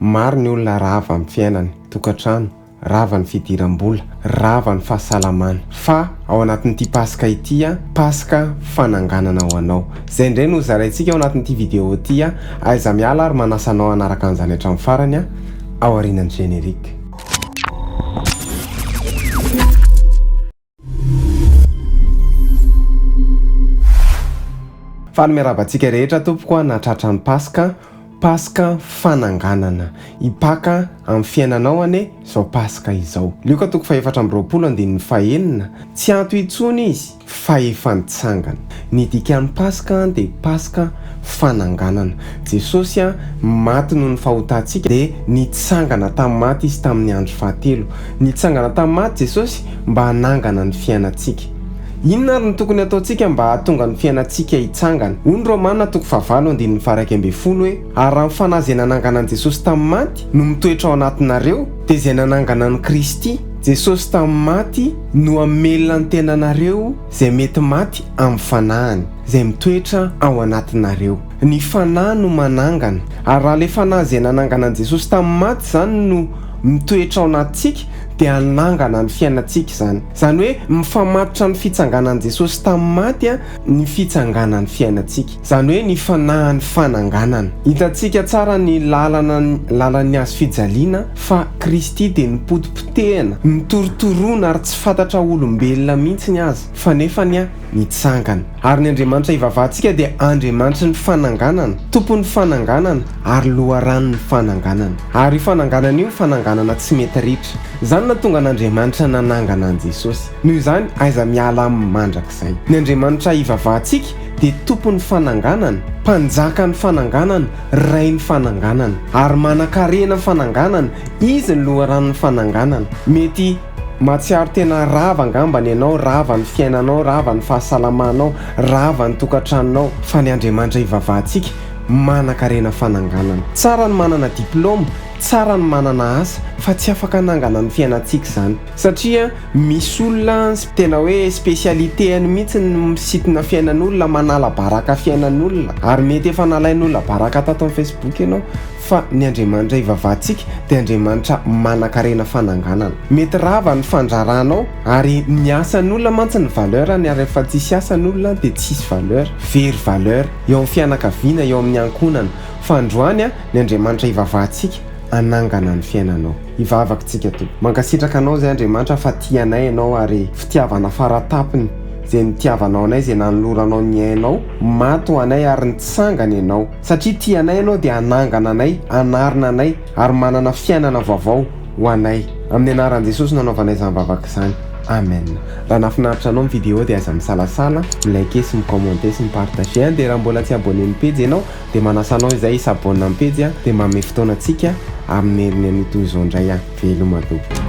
Maro ny olona rava amin'ny fiainany, tokantrano, rava ny fidiram-bola, rava ny fahasalamana. Fa ao anatin'ity Paska ity, Paska fananganana ho anao. Izay indray no hozaraintsika ao anatin'ity video ity. Aiza miala ary manasa anao hanaraka an'izany hatramin'ny farany aorianan'ny générique. Faly miarahaba antsika rehetra tompoko a na tratran'ny Paska, Paska fananganana hipaka amin'ny fiainanao anie izao Paska izao. Lioka toko fahefatra amby roapolo andininy fahenina, tsy anto intsony izy fa efa nitsangana. Ny dikan'ny Paska dia Paska fananganana. Jesosy maty noho ny fahotantsika dia nitsangana tamin'ny maty Izy tamin'ny andro fahatelo. Nitsangana tamin'ny maty Jesosy mba hanangana ny fiainantsika. Inona ary no tokony hataontsika mba hahatonga ny fiainantsika hitsangana? Hoy ny Romana toko fahavalo andininy faharaika ambin'ny folo hoe, Ary raha ny Fanahy izay nanangana an'i Jesosy tamin'ny maty no mitoetra ao anatinareo, dia izay nanangana an'i Kristy Jesosy tamin'ny maty no hamelona ny tenanareo, Izay mety maty amin'ny fanahiny, izay mitoetra ao anatinareo. Ny fanahy no manangana, ary raha ilay fanahy izay nanangana an'i Jesosy tamin'ny maty izany no mitoetra ao anatintsika, dia hanangana ny fiainantsika izany. Izany hoe mifamatotra amin'ny fitsanganan'i Jesosy tamin'ny maty ny fitsanganan'ny fiainantsika. izany hoe ny fanahin'ny fananganana. Hitantsika tsara ny lalana lalan'ny hazo fijaliana fa Kristy dia nipotipotehina, nitorotorona ary tsy fantatra olombelona mihitsy aza, fa nefany nitsangana. Ary ny Andriamanitra ivavahantsika dia Andriamanitry ny fananganana, Tompon'ny fananganana ary Loharanon'ny fananganana. Ary io fananganana io fananganana tsy mety ritra. Izany nahatonga an'Andriamanitra nanangana an'i Jesosy. Noho izany aiza miala aminy mandrakizay. Ny Andriamanitra ivavahantsika dia Tompon'ny fananganana, Mpanjakan'ny fananganana, Rain'ny fananganana. Ary manan-karena ny fananganana, Izy no loharanon'ny fananganana. Mety mahatsiaro tena rava angamba ny anao, rava ny fiainanao, rava ny fahasalamanao, rava ny tokantranonao, fa ny Andriamanitra ivavahantsika manan-karena fananganana. Tsara ny manana diplaoma, tsara ny manana asa, fa tsy afaka hanangana ny fiainantsika izany. Satria misy olona tena hoe spécialité-ny mihitsy ny misitina fiainan'olona, manala baraka fiainan'olona, ary mety efa nalain'olona baraka tato amin'ny Facebook ianao, fa ny Andriamanitra ivavahantsika dia Andriamanitra manankarena fananganana. Mety rava ny fandraranao, ary ny asan'olona mantsy ny valeur-ny, ary rehefa tsisy asa ny olona dia tsy hisy valeur, very valeur eo amin'ny fianakaviana, eo amin'ny ankohonana. Fa androany, ny Andriamanitra ivavahantsika hanangana ny fiainanao. hivavaka tsika to. Mankasitraka anao zay Andriamanitra fa tia anay ianao ary fitiavana faratapony zay nitiavanao anay zay nanoloranao ny ainao maty ho anay ary nitsangana ianao satria tia anay ianao dia hanangana anay hanarina anay ary manana fiainana vaovao ho anay amin'ny anaran'i Jesosy nanaovanay izany vavaka izany Amen. Raha nafinaritra anao ny vidéo dia aza misalasala mi liker sy mi commenter sy mi partager an dia raha mbola tsy abonné ny pejy ianao Dia manasa anao izay hisabonina amin'ny pejy aho dia manome fotoana antsika amin'ny heriny anio toy izao indray aho. Veloma aloha.